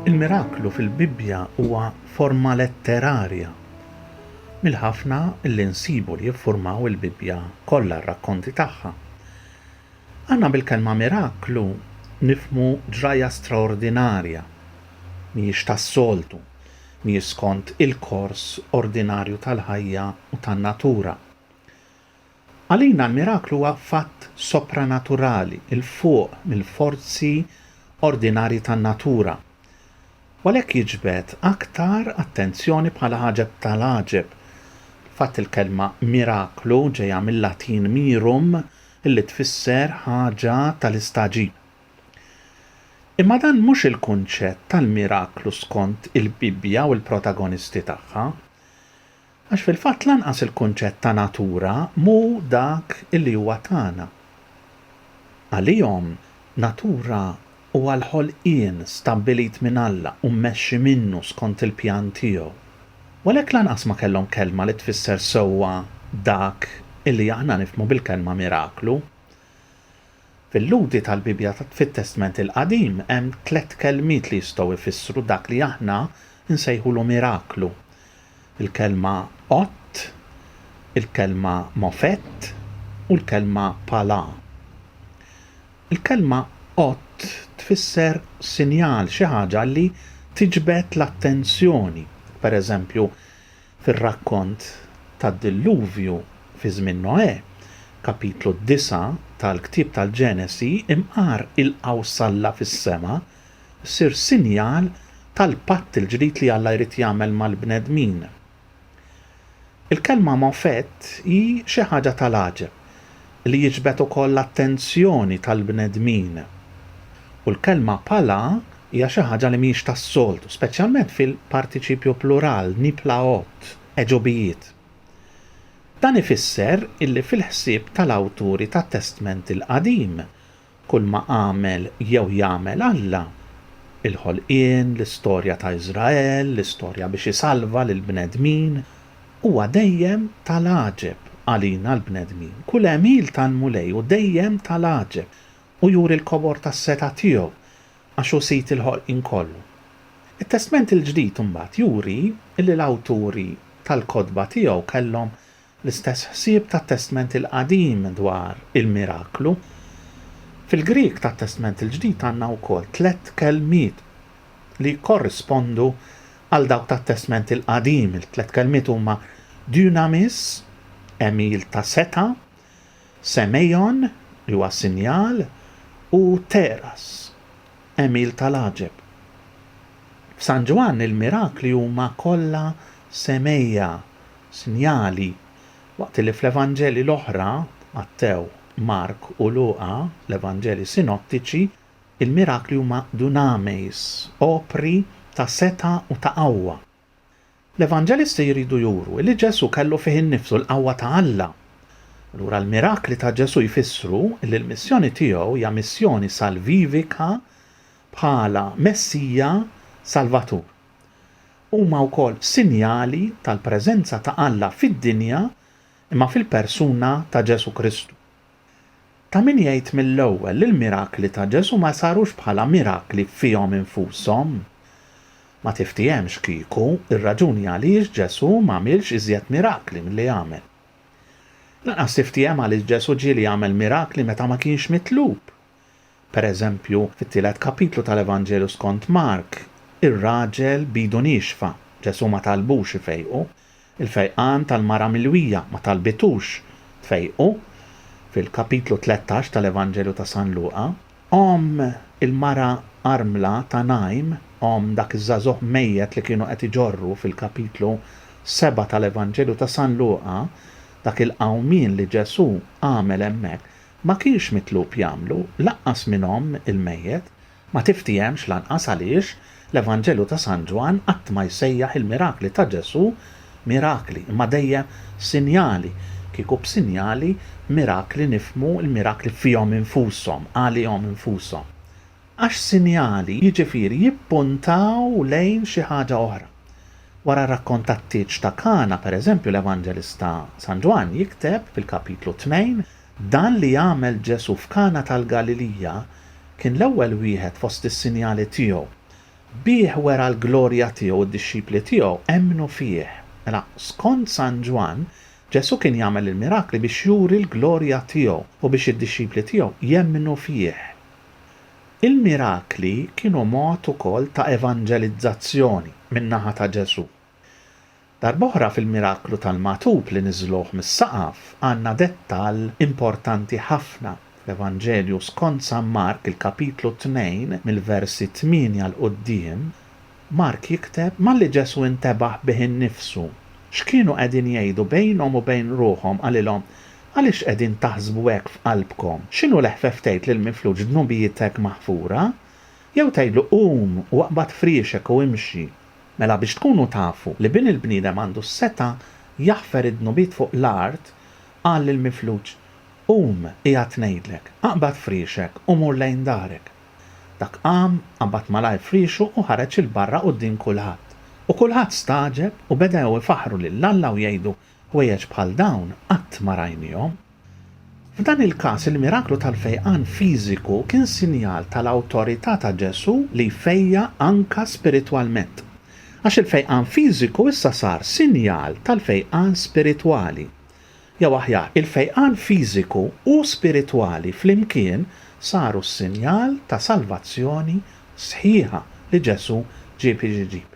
Il-miraklu fil-Bibbja huwa forma letterarja mill-ħafna li nsibu li jiffurmaw il-Bibbja kollha r-rakkonti tagħha. Aħna bil-kelma miraklu nifhmu ġrajja straordinarja, mhijiex tas-soltu, mhijiex skont il-kors ordinarju tal-ħajja u tan-natura. Għalina l-miraklu huwa fatt sopranaturali, 'il fuq mill-forzi ordinarji tan-natura, u għalhekk jiġbed aktar attenzjoni bħala għaġeb tal-għaġeb. Fil-fatt il-kelma miraklu ġejja mil-Latin mirum, li tfisser ħaġa tal-istagħġib. Imma dan mhux il-kunċett tal-miraklu skont il-Bibbja u l-protagonisti tagħha. Għax fil-fatt lanqas il-kunċett ta' natura mhu dak li huwa tagħna. Għalihom natura Huwa l-ħolqien stabbilit minn Alla u mmexxi minnu skont il-pjan tiegħu. U għalhekk lanqas ma kellhom kelma li tfisser sewwa dak li aħna nifhmu bil-kelma miraklu. Fil-Lhudi tal-Bibbja fit-Testment il-Qadim hemm tliet kelmiet li jistgħu jfissru dak li aħna nsejħulu miraklu, il-kelma ott, il-kelma mofett, u l-kelma palà. Il-kelma qott tfisser sinjal, xi ħaġa li tiġbed l-attenzjoni. Pereżempju, fir-rakkont tad-Dilluvju fi żmien Noè, Kapitlu 9 tal-ktieb tal-Ġenesi, imqar il-qawsalla fis-sema ssir sinjal tal-patt il-ġdid li Alla jrid jagħmel mal-bnedmin. Il-kelma mofett hi xi ħaġa tal-għaġeb li jiġbed ukoll l-attenzjoni tal-bnedmin. U l-kelma pala hija xi ħaġa li mhijiex tas-soltu, speċjalment fil-partiċipju plural, nipla'ot, għeġubijiet. Dan ifisser illi fil-ħsieb tal-awturi tat-Testment il-Qadim, Kulma għamel jew jagħmel Alla, il-ħolqien, l-istorja ta' Iżrael, l-istorja biex isalva lill-bnedmin, huwa dejjem ta' l-għaġeb għalina l-bnedmin. Kull għemil tal-Mulej hu dejjem ta' l-għaġeb u juri l-kobor tas-setgħa tiegħu għax hu sid il-ħolqien kollu. It-Testment il-Ġdid imbagħad juri li l-awturi tal-kotba tiegħu kellhom L-istess ħsieb tat-Testment il-Qadim dwar il-miraklu. Fil-Grieg tat-Testment il-Ġdid għandna wkoll tliet kelmiet li jikkorrispondu għal dawk tat-Testment il-Qadim. Il-tliet kelmiet huma dynamis, għemil ta' setgħa, semeion, li huwa sinjal, u pteras, għemil tal-għaġeb. F'San Ġwann il-mirakli huma kollha semei'a, sinjali, waqt li fl-Evanġelji l-oħra, Mattew, Mark u Luqa, l-Evanġelji sinottiċi, il-mirakli huma dunameis, opri ta' setgħa u ta' qawwa. L-Evanġelisti jridu juru li Ġesù kellu fih innifsu l-qawwa ta' Alla. Allura l-mirakli ta' Ġesù jfissru li l-missjoni tiegħu hija missjoni salvivika bħala Messija Salvatur. Huma wkoll sinjali tal-preżenza ta' Alla fid-dinja imma fil-persuna ta' Ġesù Kristu. Ta' min jgħid mill-ewwel li l-mirakli ta' Ġesù ma sarux bħala mirakli fihom infushom. Ma tiftiehemx kieku r-raġuni għaliex Ġesù m'għamilx iżjed mirakli milli għamel. Lanqas tiftiehem għaliex Ġesù ġieli għamel mirakli meta ma kienx mitlub Pereżempju, fit-tielet kapitlu tal-Evanġelju skont Mark, ir-raġel b'idu niexfa, Ġesù ma talbux ifejqu, il-fejqan tal-mara milwija ma talbitux tfejqu, fil-kapitlu tlettax tal-Evanġelju ta' San Luqa, omm il-mara armla ta' Najn, omm dak iż-żagħżugħ mejjet li kienu qed iġorru fil-kapitlu seba' tal-Evanġelju ta' San Luqa, dak il-qawmien li Ġesù għamel hemmhekk, Ma kienx mitlub jagħmlu, lanqas minn omm il-mejjet, ma tiftiehemx lanqas għaliex l-Evanġelju ta' San Ġwann qatt ma jsejjaħ il-mirakli ta' Ġesù mirakli imma dejjem sinjali, kieku b'sinjali mirakli nifhmu l-mirakli fihom infushom, għalihom infushom. Għax sinjali, jiġifieri jippuntaw lejn xi ħaġa oħra. Wara r-rakkont tat-tieġ ta' Kana, pereżempju, l-Evanġelista San Ġwann jikteb fil-kapitlu tnejn, Dan li għamel Ġesù f'Kana tal-Galilija kien l-ewwel wieħed fost is-sinjali tiegħu. Bih wera l-glorja tiegħu u d-dixxipli tiegħu emmnu fih. Mela, skont San Ġwann, Ġesù kien jagħmel il-mirakli biex juri l-glorja tiegħu u biex id-dixxipli tiegħu jemmnu fih. Il-mirakli kienu mod ukoll ta' evanġelizzazzjoni min-naħa ta' Ġesù. Darb'oħra fil-miraklu tal-magħtub li niżżluh mis-saqaf għandna dettall importanti ħafna. Fl-Evanġelju skont San Mark il-kapitlu tnejn mill-versi tmienja 'l quddiem, Mark jikteb malli Ġesù intebaħ bih innifsu, x'kienu qegħdin jgħidu bejnhom u bejn ruħhom qalilhom, Għaliex qegħdin taħsbu hekk f'qalbkom? X'inhu l-eħfef tgħid lill-mifluġ dnubietek maħfura? Jew tgħidlu, Qum u aqbad friexek u imxi? Mela biex tkunu tafu li Bin il-bniedem għandu s-setgħa jaħfer id-dnubiet fuq l-art, qal lill-mifluġ, Qum, qiegħed ngħidlek, aqbad friexek u mur lejn darek. Dak qam, qabad malajr friexu u ħareġ 'il barra quddiem kulħadd. U kulħadd stagħġeb u bedew ifaħħru lil Alla u jgħidu, Ħwejjeġ bħal dawn qatt ma rajniehom. F'dan il-każ, il-miraklu tal-fejqan fiżiku kien sinjal tal-awtorità ta' Ġesù li jfejjaq anke spiritwalment. Għax il-fejqan fiżiku issa sar sinjal tal-fejqan spiritwali. Jew aħjar, il-fejqan fiżiku u spiritwali flimkien saru s-sinjal ta' salvazzjoni sħiħa li Ġesù ġieb iġib.